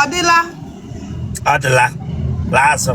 ọ dịla ọ dịla laa azụ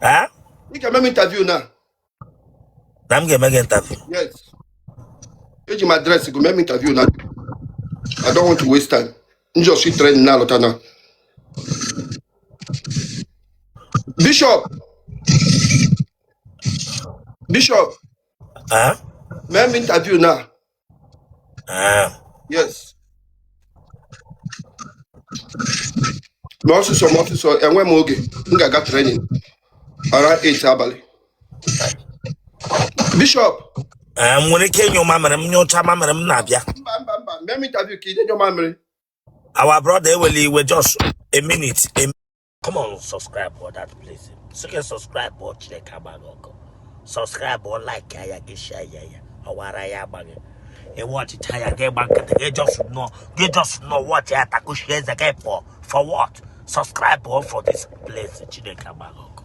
Ah? Ị ga-eme m interview na. Na m ga-eme gị interview. Yes. Eji m adreesị gị mee m interview na. I don't want to waste time. M just si training na-alọta na. Bishop. Bishop. Ah? Mee m interview na. Ee, yes mee ọsịsọ mee ọsịsọ enwe m oge m ga-aga training around 8 abalị bishọp ee, m nwere ike ịnyụ mamịrị m nyụcha mamịrị m na-abịa mba mba mba mee m interview ka ị na-anyụ mamịrị our brother ewela iwe just a minute Come on, subscribe for that place. So you subscribe or Chineke agba gị ọkụ. Subscribe for like ya gị share ya ya. Ọwara ya agbaghị. Ị watch it ya gị gba nkịtị gị just know gị just know what ya takushi eze gị for for what? Subscribe for for this place Chineke agba gị ọkụ.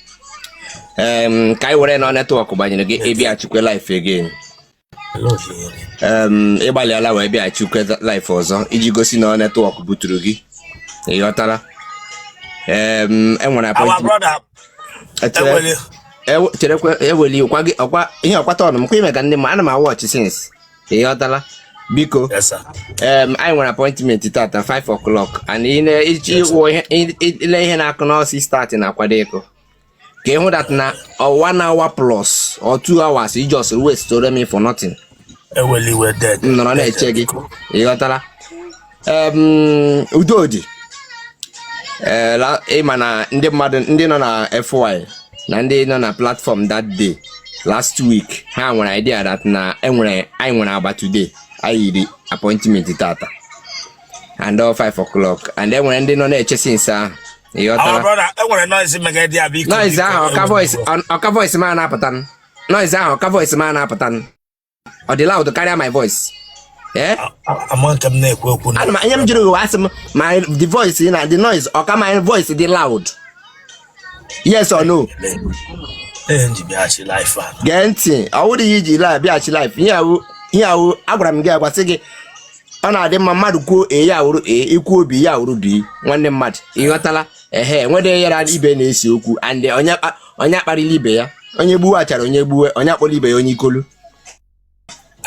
um, ka anyị were na network gbanyere gị ịbịachikwe live again um, ịgbalịala wee bịachikwe live ọzọ iji gosi na network buturu gị ịghọtala um, enwere appoint cherekwa eweli ọkwa ihe ọkwata ọnụ m kwa ime ka ndị ma ana m awatch since ị ghọtala biko Yes, sir. em, anyị nwere appointment tata 5 o'clock and ị na- iji wụ ihe- ị- ị- ile ihe na-akụ na ọ six thirty na-akwado ịkụ ka ịhụ that na ọ one hour plus or two hours you just waste me for nothing Ewela iwe dede. m nọrọ na-eche gị ị ghọtala Udodi eh, ịma na ndị mmadụ ndị nọ na FY na ndị nọ na platform that day last week ha nwere idea that na enwere anyị nwere agba today anyị yiri appointment tata and all 5 o'clock and enwere ndị nọ na-eche since ahụ noise ahụ ọ ka voice m na-apụta noise ahụ ọ ka voice m na-apụta ọ dị loud karịa my voice eh? ihe m jụrụ gị asị m my the voice na the noise ọ ka my voice dị loud yes or no gee ntị ọ wụrụ ihe iji bịaghachi live ihe ahụ agwara m gị agwasị gị ọ na-adị mma mmadụ kwuo A ya awụrụ A ikwuo B ya awụrụ B nwanne mmadụ ịghọtala ehe enwede ya ra ibe na-ese okwu and onye kpa- onye akparịla ibe ya onye gbuwe achara onye gbuwe onye akpọla ibe ya onye ikolu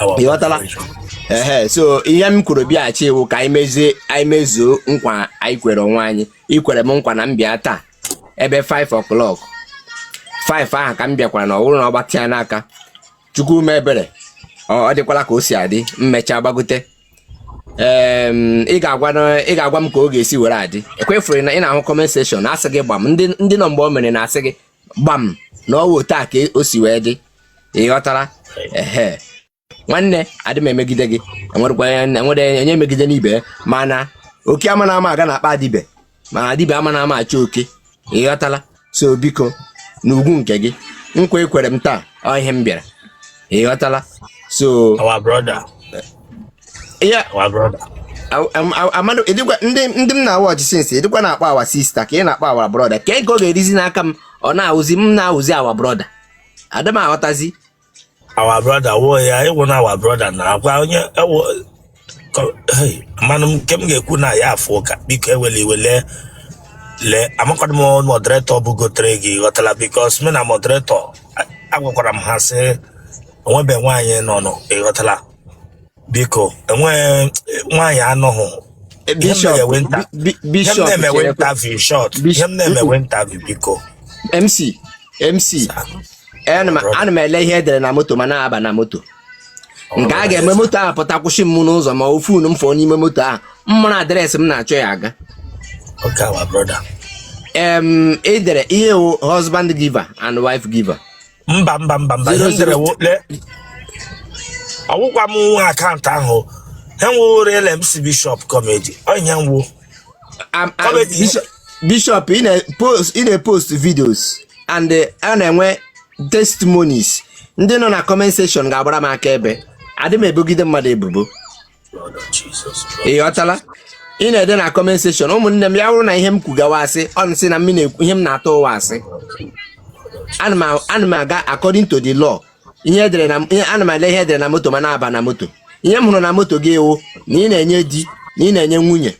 Our ịghọtala vibration. ehe so ihe m kwuru bịaghachi wụ ka anyị mezie anyị mezuo nkwa anyị kwere onwe anyị ikwere m nkwa na m bịa taa ebe 5 o'clock 5 ahụ ka m bịakwara na ọ wụrụ na ọ gbatịa n'aka Chukwu mee ebere ọ ọ dịkwala ka o si adị m mechaa gbagote ị ga-agwa m ka ọ ga-esi were adị ịkwa ị fụrụ na ị na-ahụ comment section na-asị gị gbam ndị nọ mgbe o mere na-asị gị gbam na ọ wụ otu a ka o si wee dị ị ghọtara ehe nwanne adị m emegide gị enwere onye megide n'ibe mana oke amana ama aga n'akpa dibịa mana dibịa amana ama achọ oke ịghọtala so biko n'ugwu nke gị nkwa i kwere m taa ọ ihe m bịara ịghọtala so our brother ya our brother amadụ edikwa ndị ndị m na-awa ọchị since ị dịkwa na-akpọ our sister ka ị na-akpọ our brother ka ego ọ ga-erizi n'aka m ọ na-awụzi m na-awụzi our brother adị m aghọtazi our brother wo ya ị wụ na our brother na-agwa onye ewo mana nke m ga-ekwu na ya afọ ụka biko ewele iwe lee lee amakwadị m moderator bụ gotere gị ị ghọtara because mụ na moderator agwakwara m ha sị o nwebe nwaanyị nọnụ ịghọtara biko enweghị nwaanyị anọghị ihe m bishop na-eme wụ nta bi- bi- ihe m bishop na-eme wụ cherekwe interview short ihe bish- m mm-mm. na-eme wụ interview biko mc mc ana m brother ana m ele ihe edere na moto ma na-aba na moto ọ nke a bụrụ ga-eme eze moto ahụ pụta kwụsị m n'ụzọ ma ofu unu m fọọ n'ime moto ahụ mmụrụ address m na-achọ ya aga okay our brother em edere ihe wụ husband giver and wife giver mba mba mba mba ihe m dere wụ le ọ wụkwa m nwe account ahụ aha m wụ real mc bishop comedy onye nwo Am- am- Comedy. Bishop- bishop ị na-post ị na-post videos and eh, a na-enwe testimonies ndị nọ na comment section ga-agbara m akaebe adị m ebogide mmadụ ebubo ị ghọtala ị na-ede na comment section ụmụnne m ya wụrụ na ihe m kwuga wụ asị unu sị na ihe m na-atụ wụ asị ana m aga according to the law ihe edere na ana m ele ihe edere na moto ma na-aba na moto ihe m hụrụ na moto gị wụ na ị na-enye di na ị na-enye nwunye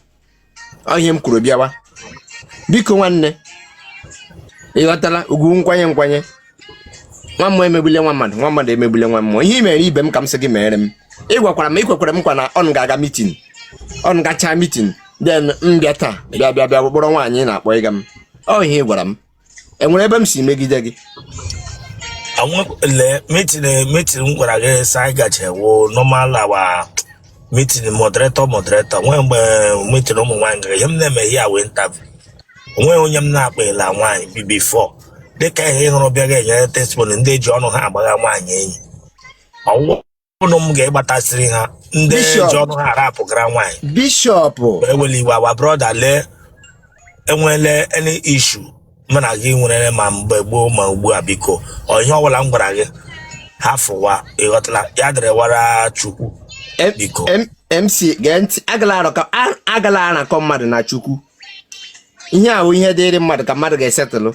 ihe m kwuru bịawa biko nwanne ịghọtala ugwu nkwanye nkwanye nwa mmụọ emegbule nwa mmadụ nwa mmadụ emegbule nwa mmụọ ihe i mere ibe m ka m sị gị mere m ị gwakwara m ị kwekwara m nkwa na ọ ga-aga meeting ọ gachaa meeting then m bịa taa bịa bịa bịa kpọrọ nwaanyị na-akpọ ịga m ọ ihe ị gwara m enwere ebe m si megide gị lee meeting meeting m gwara gị sị anyị gaje wụ normal our meeting moderator moderator nwee mgbe meeting ụmụ nwaanyị gara ihe m na-eme ihe a wụ interview onweghị onye m na-akpịla nwaanyị bi before dịka ihe ị hụrụ bịa ga-enye testimony ndị ji ọnụ ha agbagha nwaanyị enyi ọwụwa ụnụ m ga-egbatasịrị ha ndị Bishop. ji ọnụ ha arapụgara nwaanyị Bishop ewela iwe our brother lee e nwere any issue mụ na gị nwere ma mgbe gboo ma ugbu a biko ọ ihe ọbụla m gwara gị hafụwa ịghọtala ya dịrịwara chukwu M- biko M- MC gee ntị agala arụkọ a- agala arakọ mmadụ na chukwu ihe a wụ ihe dịịrị mmadụ ka mmadụ ga-esetụlụ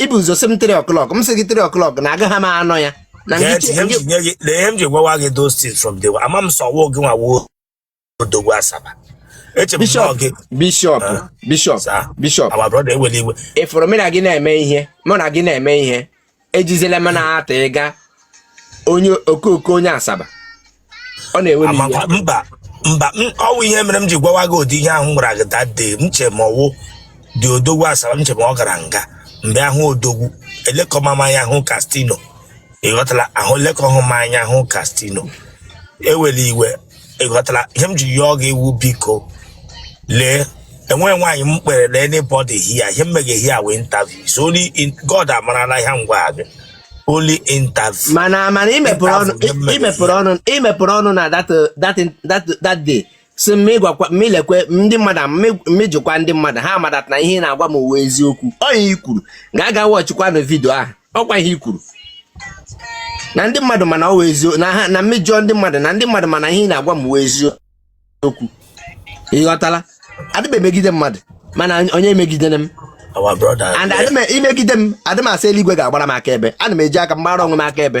i bu eh, ụzọ sị m 3 o'clock m sị gị 3 o'clock na agaghị m anọ ya ihe m ji gwawa gị those things from day ama m sị ọ wụ gịnwa wụ odogwu Asaba Bishop Bishop ah, Bishop Bishop ị fụrụ mụ na gị na-eme ihe mụ na gị na-eme ihe ejizela m na-ata ịga onye okooko onye Asaba ọ na-ewe m iwe. mba mba ọwụ ihe mere m ji gwawa gị ụdị ihe ahụ m gwara gị that day m che ma ọwụ the odogwu Asaba m che ma ọ gara nga mgbe ahụ odogwu elekọma m anya ahụ Castino ịghọtala ahụ lekọhụ m anya ahụ Castino ewela iwe ịghọtala ihe m ji yọọ gị wụ biko lee enweghị nwaanyị m kpere na anybody here ihe m mega here wụ interview so only in God amarala ihe m gwara gị only interview mana mana imepụrụ ọnụ Interview, ihe m mere imepụrụ ọnụ imepụrụ ọnụ na that uh, that that that day si m ịgwakwa m ilekwe ndị mmadụ m mejọkwa ndị mmadụ ha ama that na ihe ị na-agwa m wụ eziokwu ọ ihe i kwuru ga-aga watchikwanụ video ahụ ọkwa ihe i kwuru na ndị mmadụ mana ọ eziokwu na ha na m mejọọ ndị mmadụ na ndị mmadụ mana ihe ị na-agwa m wụ eziokwu ịghọtala adị m emegide mmadụ mana onye megidere m and i megide m adị m asị eluigwe ga-agbara m aka ebe ana m eji aka m gbara onwe m aka ebe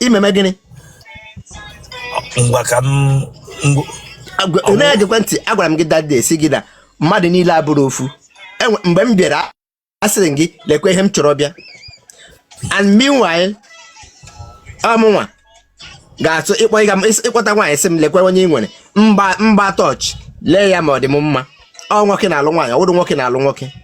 imeme gịnị ngwa ka m na-egekwe ntị agwara m gị that day sị gị na mmadụ niile abụrọ ofu e mgbe m bịara asịrị gị lekwa ihe m chọrọ bịa and meanwhile ọ mụnwa ga-atụ ịkpọta nwaanyị sị m lekwa onye ị nwere m gba m gbaa torch lee ya ma ọ dị m mma ọ nwoke na-alụ nwaanyị ọ wụrọ nwoke na-alụ nwoke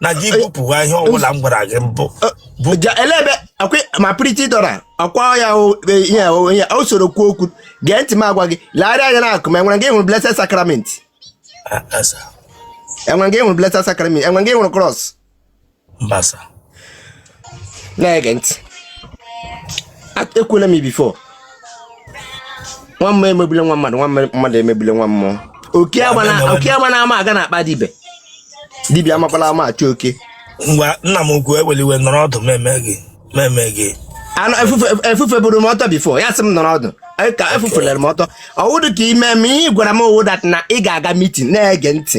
na gị bupụwa ihe ọbụla m gwara gị mbụ elebe ma Pretty Dora ọkwa ya e, ihe onye o soro kwuo okwu gee ntị m agwa gị legharịa anya n'akụkụ ma enwere nga ị hụrụ blessed sacrament enwere nga ị hụrụ blessed sacrament enwere nga ị hụrụ cross na-ege ntị ekwuola m before nwa mmụọ emegbule nwa mmadụ nwa mmadụ emegbule nwa mmụọ oke agbana ama aga n'akpa dibịa dibịa amakwala ama achọ oke ngwa nna m ukwu ewela iwe nọrọ ọdụ meme gị meme gị efufe buru m ọtọ before ya sị m nọrọ ọdụ ka efufere m ọtọ ọwụdụ ka ime m ihe gwara m wụ that na ị ga-aga meeting na-ege ntị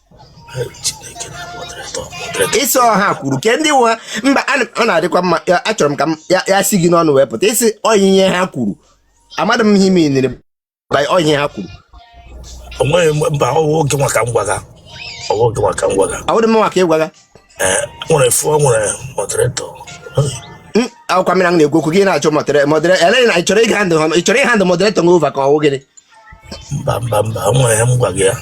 ị sị ọ ha kwuru ke ndị wụ ha mba ọ na-adịkwa mma achọrọ m ka ya si gị n'ọnụ wee pụta ị sị ọ ihe ha kwuru amadị m ihe ị meanịrị ọ ihe ha kwuru onweghị mba ọwụ oge maka ngwaga ọwụ oge maka ngwaga awụdị m maka ịgwa gị eh, nwere fụ nwere moderator akwụkwọ mmiri na-ekwu okwu gị na-achọ modera modera eleghị na ịchọrọ ịhandụ ịchọrọ ịhandụ moderator over ka ọwụ gịnị mba mba mba o nwere ihe m gwa gị ya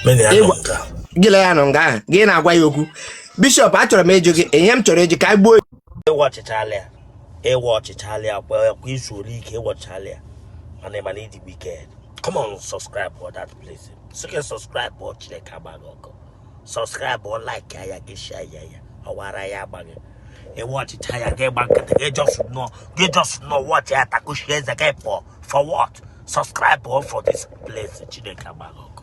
mena ya nọ Ịgwa- nka gị lee ya nọ nga ahụ gị na-agwa ya okwu Bishop achọrọ m ịjụ gị ihe m chọrọ ịjụ ka anyị gbuo ị watchịchaala ya ị watchịchaala ya kwa kwa izu ole ike ị watchịchaala ya mana ịma na ịdị wicked come on subscribe for that place sike subscribe or Chineke agba gị ọkụ subscribe ọ like ya ya gị share ya ya ọwara ya agba gị ị watchịchaa ya gị agba nkịtị gị just nọ gị just nọ watch ya takushi eze gị pụọ for what subscribe o for this place Chineke agba gị ọkụ